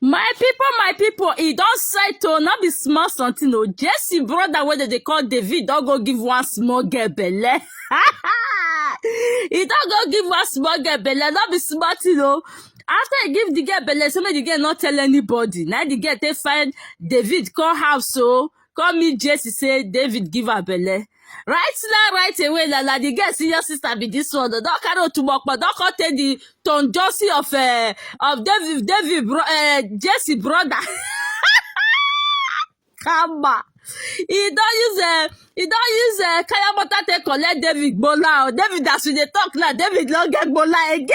My people, my people, e don settle, no be small something o. Jesse brother wey dem dey call David don go give one small girl belle. e don go give one small girl belle, no be small thing o. After e give the girl belle, say make the girl no tell anybody. Na the girl take find David come house o. come meet Jesse say David give her belle. Right now, right away, la la, the girl senior sister be this one. Don't carry Otumokpa, don't come take the Tom Josie of uh, of David David bro, uh, Jesse brother. Kama. He don't use uh, he don't use uh, kaya butter take collect David Bola. David as we dey talk now, David no get Bola again.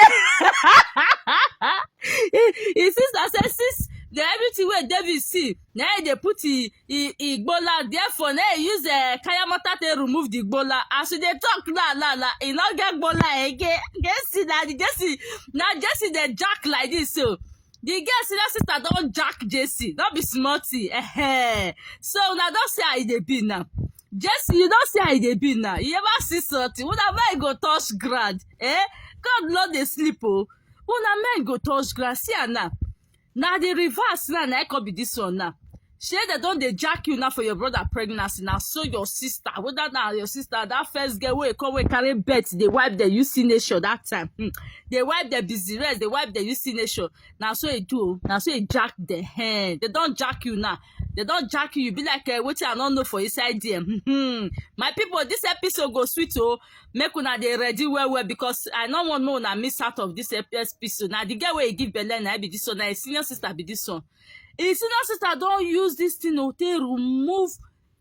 his sister say since the everything wey David see na e dey put e e e gbola therefore na e use uh, kayamata take remove the gbola as we dey talk now now now e no get gbola again jesse na the jesse na jesse dey jack like this so the girl senior sister don jack jesse no be small thing eh so una don see how e dey be now jesse you don see how e dey be now you ever see something una mind go touch ground eh god no dey sleep o una mind go touch ground see am now na the reverse now na come be this one now shey dem don dey jack you now for your brother pregnancy na so your sister whether na your sister that first girl wey come wey carry birth dey wipe the uc nation that time hmm. dey wipe the busy rest dey wipe the uc nation na so e do o na so e jack the hen dem don jack you now they don jack you you be like uh, wetin i no know for inside there hmm. my people this episode go sweet o oh. make una dey ready well well because i no wan make una miss out of this episode na the girl wey e give belle na be this one na him senior sister be this one him senior sister don use this thing o take remove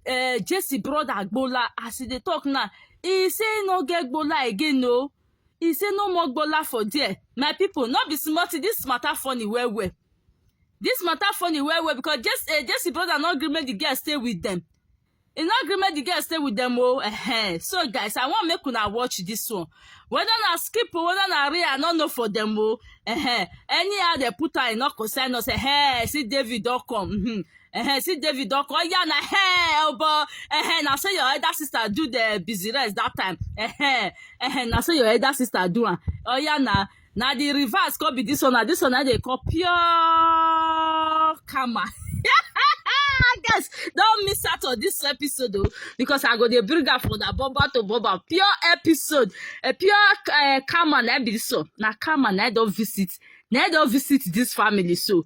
uh, jesse brother agbola as he dey talk now he say he no get gbola again o he say no more gbola for there my people no be small thing this matter funny well well this matter funny well well because jesse, uh, jesse brother no gree make the girl stay with them e no gree make the girl stay with them oh uh-huh. so guys i want make una watch this one whether na skip or whether na real i no know for them oh uh-huh. anyhow they put her e no concern us uh-huh. see david don come mm-hmm. uh-huh. see david don come oya na hey, obo uh-huh. na so your elder sister do the busy rest that time uh-huh. Uh-huh. na so your elder sister do am oya na. na the reverse come be this one na this one na dey call pure karma guys don miss out on this episode o oh, because i go dey bring am for na boba to boba pure episode a eh, pure uh, karma na be this one na karma na don visit na don visit this family so